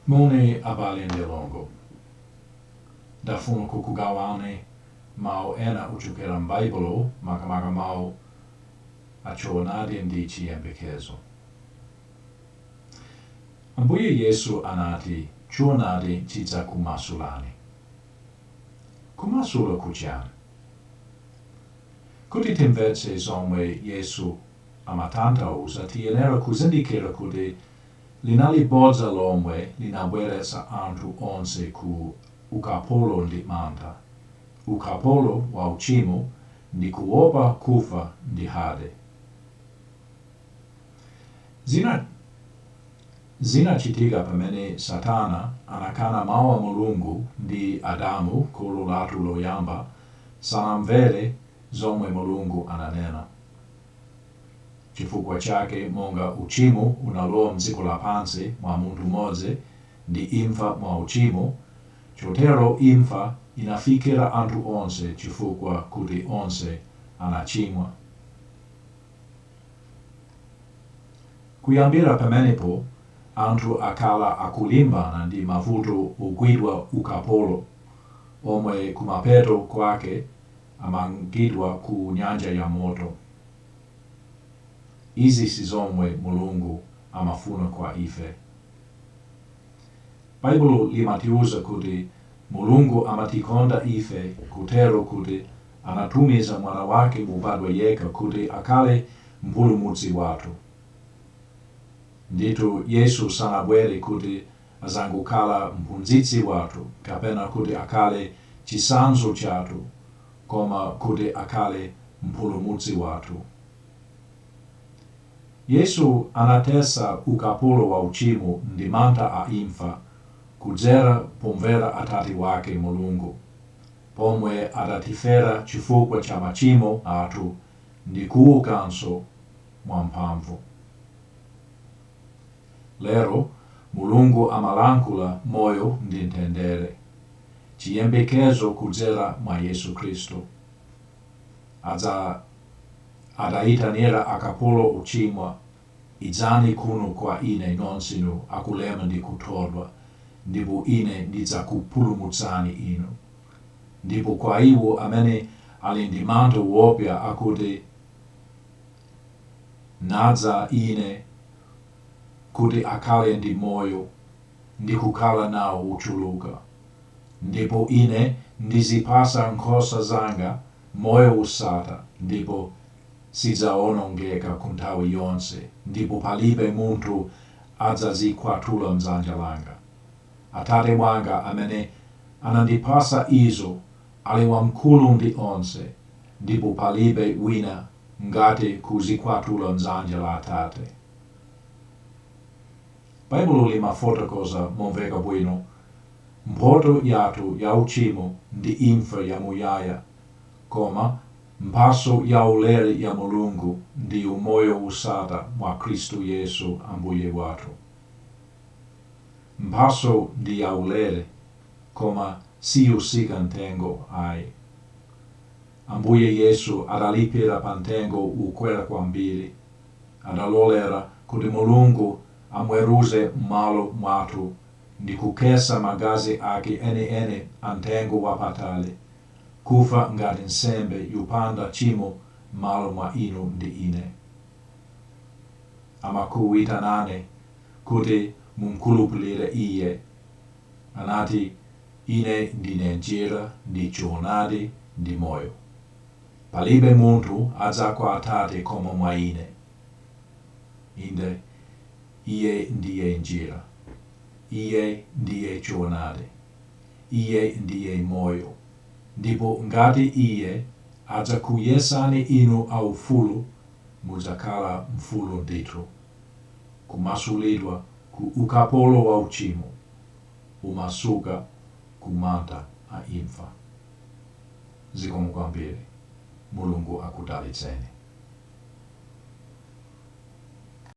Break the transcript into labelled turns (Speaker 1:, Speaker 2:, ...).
Speaker 1: Moni abale ndi alongo. Ndafuna kukugawani mawu ena ochokera m'Baibulo, makamaka mawu a choonadi ndi chiyembekezo. Ambuye Yesu anati choonadi chidzakumasulani. Kumasula ku chani? Kuti timvetse zomwe Yesu amatanthauza tiyenera kuzindikira kuti linali bodza lomwe linabweretsa anthu onse ku ukapolo ndi mantha, ukapolo wa uchimo ndi kuopa kufa ndi Hade. Zinachitika pamene Satana anakana Mau a Mulungu ndi Adamu kholo lathu loyamba sanamvere zomwe Mulungu ananena. Chifukwa chake monga uchimo unalowa mdziko lapansi mwa munthu mmodzi ndi imfa mwa uchimo, chotero imfa inafikira anthu onse chifukwa kuti onse anachimwa. Kuyambira pamenepo, anthu akhala akulimbana ndi mavuto ogwidwa ukapolo, omwe kumapeto kwake amangidwa ku nyanja ya moto. Izi si zomwe Mulungu amafuna kwa ife. Baibulo limatiuza kuti Mulungu amatikonda ife kotero kuti Anatumiza Mwana wake wobadwa yekha kuti akhale Mpulumutsi wathu. Ndithu, Yesu sanabwere kuti adzangokhala Mphunzitsi wathu kapena kuti akhale chitsanzo chathu koma kuti akhale Mpulumutsi wathu. Yesu anathetsa ukapolo wa uchimo ndi mantha a imfa kudzera pomvera Atate wake, Mulungu. pomwe adatifera chifukwa cha machimo athu ndi kuukanso mwa mphamvu. Lero, Mulungu amalankhula moyo ndi mtendere, chiyembekezo kudzera mwa Yesu Khristu. Adaitanira akapolo ochimwa Idzani kuno kwa Ine nonsenu akulema ndi kuthodwa, ndipo Ine ndidzakupulumutsani inu. Ndipo kwa iwo amene ali ndi mantha woopsa akuti, Nadza Ine kuti akhale ndi moyo, ndi kukhala nao wochuluka. Ndipo Ine ndizipatsa nkhosa zanga moyo wosatha, ndipo sizidzawonongeka ku nthawi yonse, ndipo palibe munthu adzazikwatula m'dzanja langa. Atate wanga amene anandipasa izo ali wamkulu ndi onse, ndipo palibe wina angathe kuzikwatula m'dzanja la Atate. Baibulo limafotokoza momveka bwino mphotho yathu ya uchimo ndi imfa ya muyaya, koma Mphatso yaulere ya Mulungu ndi umoyo wosatha mwa Khristu Yesu Ambuye wathu. Mphatso ndi yaulere, koma siyotsika mtengo ayi. Ambuye Yesu adalipira pa mtengo wokwera kwambiri. Adalolera kuti Mulungu amweruze m'malo mwathu ndi kukhetsa magazi ake enieni amtengo wapatali kufa ngati nsembe yopanda tchimo m'malo mwa inu ndi ine. Amakuitanani kuti mumkhulupirire Iye. Anati, Ine ndine njira ndi choonadi ndi moyo. Palibe munthu adza kwa Atate koma mwa Ine. Inde, Iye ndiye njira. Iye ndiye choonadi. Iye ndiye Moyo. Ndipo ngati Iye adzakuyesani inu aufulu, mudzakhala mfulu ndithu. Kumasulidwa ku ukapolo wa uchimo, kumasuka ku mantha a imfa. Zikomo kwambiri. Mulungu akudalitseni.